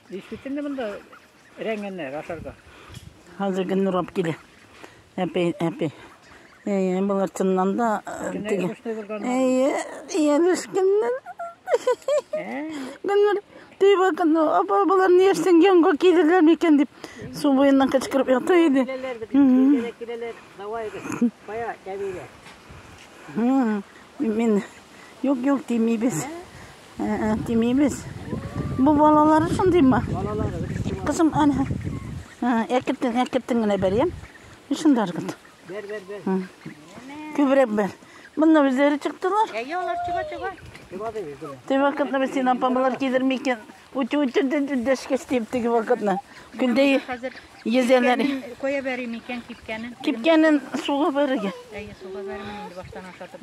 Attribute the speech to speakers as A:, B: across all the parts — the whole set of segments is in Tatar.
A: Действительно монда рәңгәннәр ашарга. Хәзер гел
B: нурап килә. Әпи, әпи. Әйе, болар чыннан да теге. Әйе, яшкеннәр. Гөлнур, тый бакын, апа, болар ни яшсен, янга килерләр микән дип, су буеннан кычкырып ята иде. Киләләр,
A: киләләр, давай, кая, кәбилә.
B: Мин, юк, юк, тимибез. Ә, тимибез. Бу балалары шундый ма? Кызым, әнә. Әкертен, әкертен генә бер, я? Шунда аргыт. Бер, бер, бер. Күбрәк бер. Монда үзләре чыктылар. Әйе, алар чыга, чыга.
A: Теге
B: вакытны без син апамлар кидерми икән. Үтү үтүдән дәшкәс дип теге вакытны. Көндә езәләр. Коя бәрим
A: икән кипкәнен. Кипкәнен суга
B: бәрергә. Әйе, суга бәрмәм инде
A: баштан ашатып.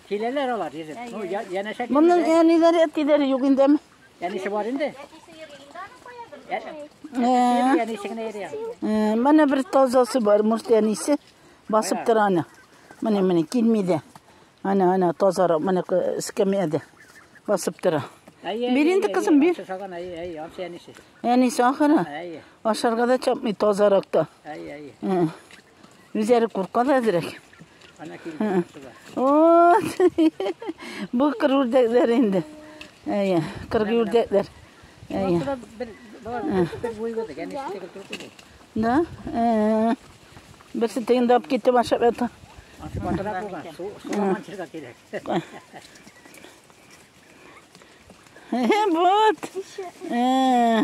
A: Киләләр алар йөзеп. Ну, я- янәшә килмиләр.
B: Моның әниләре, әтиләре юк инде. әм. Әнисе бар инде. Ә- Ә,
A: Әнисе генә
B: йөри. ә, Менә бер тазасы бар, мөрте әнисе басып тора аны. Менә, менә, килми дә. Ана, ана, тазарак, менә ку- эскәмиядә басып тора. Әйе, Бир әйе, инде, әйе, кызым, бир. Ансы салган, әйе, әйе, ансы әнисе. Әнисе ахыры. Әйе, Ашарга да чапмый тазарак та. әйе, әйе. Ә. Үзләре курка да әзрәк. Ана килде. Бу кыр үрдәкләр инде. Әйе, кыр үрдәкләр. Әйе. Да? Э. Берсе тегендә алып китеп ашап ята. Ашматырак булган. Суламан чирга кирәк. Вот. Э.